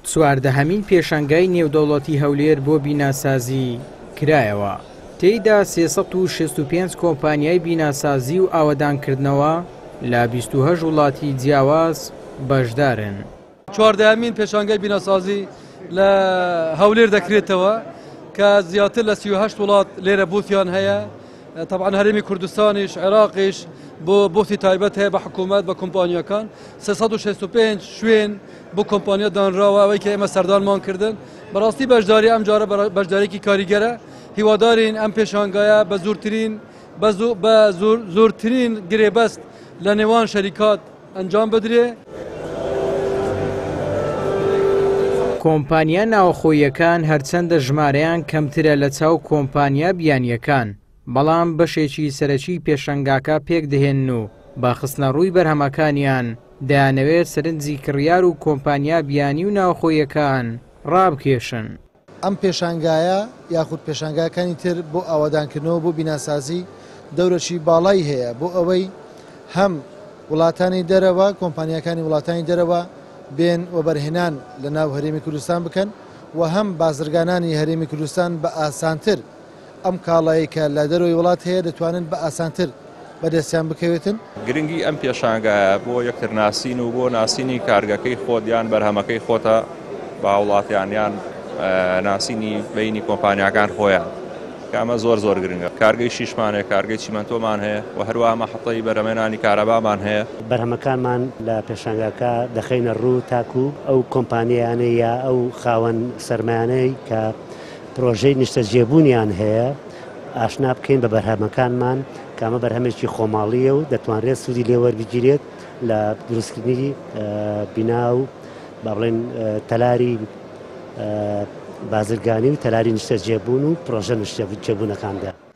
چواردەهەمین پێشانگای نێودەوڵەتی هەولێر بۆ بیناسازی کرایەوە تێیدا سێ سەد و شەست و پێنج کۆمپانیای بیناسازی و ئاوەدانکردنەوە لە بیست و هەشت وڵاتی جیاواز بەشدارن. چواردەهەمین پێشانگای بیناسازی لە هەولێر دەکرێتەوە کە زیاتر لە سی و هەشت وڵات لێرە بووتیان هەیە. تەبعەن هەرێمی کوردستانیش، عێراقیش بۆ بوختی تایبەت هەیە بە حکوومەت بە کۆمپانیاکان سێ سەد و شەست و پێنج شوێن بۆ کۆمپانیا دانراوە ئەوەی کە ئێمە سەردانمان کردن بەڕاستی بەشداری ئەم جارە بەرا- بەشدارێکی کاریگەرە هیوادارین ئەم پێشانگایە بە زورترین بە زو- بە زور- زورترین گرێبەست لە نێوان شەریکات ئەنجام بدرێ. کۆمپانیا ناوەخۆییەکان هەرچەندە ژمارەیان کەمترە لە چاو کۆمپانیا بیانییەکان، بەڵام بەشێکی سەرەکی پێشەنگاکە پێک دەهێنن و بە خستنەڕووی بەرهەمەکانیان دەیانەوێت سەرنجی کڕیار و کۆمپانیا بیانی و ناوەخۆییەکان ڕابکێشن. ئەم پێشانگایە یاخود پێشانگاکانی تر بۆ ئاوادانکردنەوە بۆ بیناسازی دەورەکی باڵای هەیە بۆ ئەوەی هەم وڵاتانی دەرەوە کۆمپانیاکانی وڵاتانی دەرەوە بێن وەبەرهێنان لە ناو هەرێمی کوردستان بکەن و هەم بازرگانانی هەرێمی کوردستان بە ئاسانتر ئەم کاڵایەی کە لە دەرەوەی وڵات هەیە دەتوانن بە ئاسانتر بەدەستیان بکەوێتن. گرنگی ئەم پێشانگایە بۆ یەکترناسین و بۆ ناسینی کارگەکەی خۆت یان بەرهەمەکەی خۆتە بە هاوڵاتیان یان ناسینی بینی کۆمپانیاکان خۆیان کامە زۆر زۆر گرنگە کارگەی شیشمانێ کارگەی چیمەنتۆمان هەیە و هەروە مەحەتەی بەرەمێنانی کارەبامان هەیە. بەرهەمەکانمان لە پێشانگاکە دەخەینە ڕوو تاکوو ئەو کۆمپانیانەی یا ئەو خاوەن سەرمایانەی کە پرۆژەی نیشتەجێبوونیان هەیە، ئاشنا بکەین بە بەرهەمەکانمان، کە ئەمە بەرهەمێکی خۆماڵییە و دەتوانرێت سوودی لێ وەربگیرێت لە دروستکردنی بینا و با بڵێن تەلاری بازرگانی و تەلاری نیشتەجێبوون و پرۆژە نیشتەجێبوونەکاندا.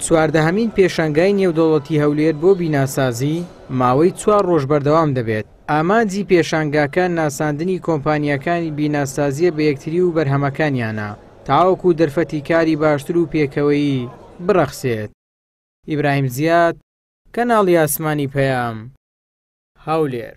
چواردەهەمین پێشانگای نێودەوڵەتی هەولێر بۆ بیناسازی ماوەی چوار ڕۆژ بەردەوام دەبێت ئامانجی پێشانگاکە ناساندنی کۆمپانیەکانی بیناسازیە بە یەکتری و بەرهەمەکانیانە تاوەکو و دەرفەتی کاری باشتر و پێکەوەیی بڕەخسێت ئیبراهیم زیاد کەناڵی ئاسمانی پەیام هەولێر